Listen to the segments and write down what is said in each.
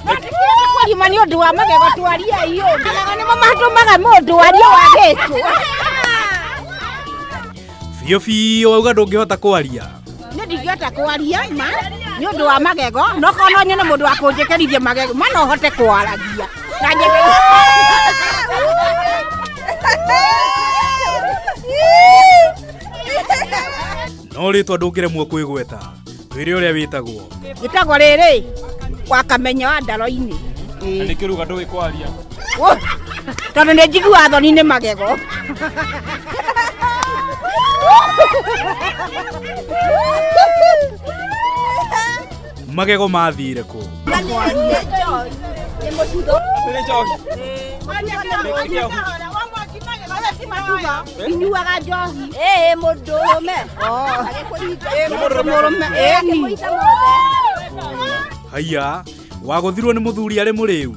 kũrima nĩ ũndũ wa magego twaria iyo magego nĩmo matũmaga mũndũ arie wagĩtwo biũ biũ wauga ndũngĩhota kwaria nĩ ndingĩhota kwaria ma nĩ ũndũ wa magego no korwo no nyone mũndũ wa kũnjĩkĩrithia magego ma no hote kwaragia na njĩke no rĩtwa ndũngĩremwo kwĩgweta twĩre ũrĩa wĩtagwo gĩtagwo rĩrĩ wakamenya wa ndaro-inĩ na nĩ kĩruga ndũĩ kwaria Wũ, tondũ nĩ njiguaga thoni nĩ magego magego mathire kũ nĩ njoki inyuaga njohi ĩĩ mũndũ ũrũme mũrũme ĩni haiya wagũthirwo nĩ mũthuri arĩ mũrĩu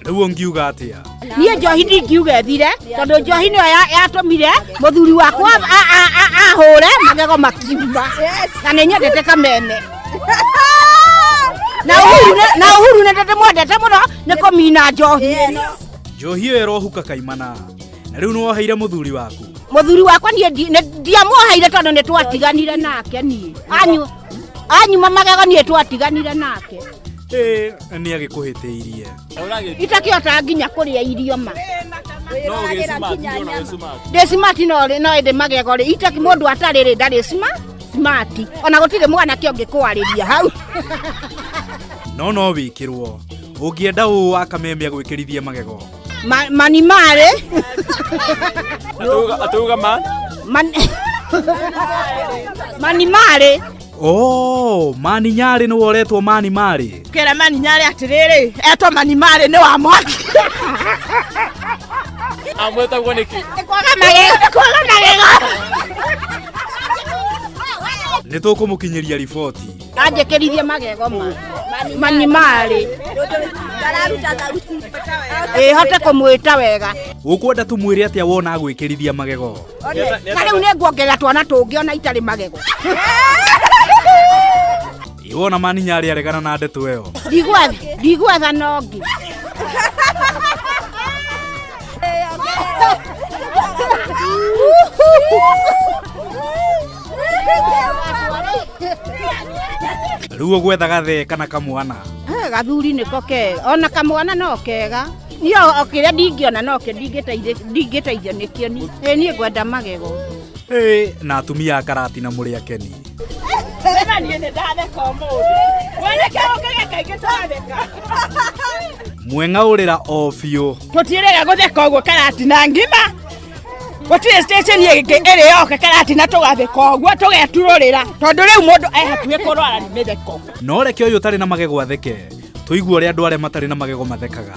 rĩu ũngiuga atĩa niĩ njohi ndingiuga ĩthire tondũ njohi nĩyo ya- yatũmire mũthuri wakwa a- a- a- ahũre magego makiuma na nĩ nyendete kameme na ũhuru nĩ- na ũhuru nĩ ndĩmwendete mũno nĩ kũmina njohi njohi ĩyo ĩrohuka kaimana na rĩu nĩwoheire mũthuri waku mũthuri wakwa niĩ ndi- nĩ- ndiamũhaire tondũ nĩ twatiganire nake niĩ Anyu- anyuma magego niĩ twatiganire nake ĩ nĩ agĩkũhĩtĩirie itakĩhota nginya kũrĩa irio ma ndĩ simati no no ĩndĩ magego rĩ itakĩ mũndũ atarĩ rĩ ndarĩ sima simati ona gũtirĩ mwanake ũngĩkwarĩria hau no no wĩkĩrwo Ũngĩenda ũũ wa kameme agwĩkĩrithie magego. Ma- mani marĩ Atauga man. Man- mani marĩ Oh, mani nyarĩ nĩ woretwo mani marĩ. kera mani nyarĩ atĩrĩrĩ etwo mani marĩ nĩ wa mwaki Amwetagwo nĩkĩ? kwaga magego nĩ kwaga magego Nĩ tũkũmũkinyĩria riboti. anjĩkĩrithie magego ma mani marĩ ĩ hote kũmwĩta wega Ũkwenda tũmwĩre atĩa wona agwĩkĩrithia magego? na rĩu nĩ nguongerera twana tũngĩ ona itarĩ magego Ĩ wona maninya arĩ aregana na ndeto ĩyo. ndigwetha ndigwetha nongi rĩu ũgwetha gathe kana kamwana Eh, gathuri nĩko kega ona kamwana no kega niĩ o- o kĩrĩa ndingĩona nokĩo ndingĩteithĩ- ndingĩteithio nĩkĩo ni ĩ niĩ ngwenda magego Ĩ, na atumia a karati na mũrĩ akeni mweng'aũrĩra o biũ tũtiĩrega gũtheka ũguo karati na ngima gũtirĩ station ĩngĩ ĩrĩ yoke karati na tũgathĩka ũguo tũgeturũrĩra tondũ rĩu mũndũ e hakuhĩ kũrwara nĩ mĩtheko no reke ũyũ ũtarĩ na magego atheke tũigue ũrĩa andũ arĩa matarĩ na magego mathekaga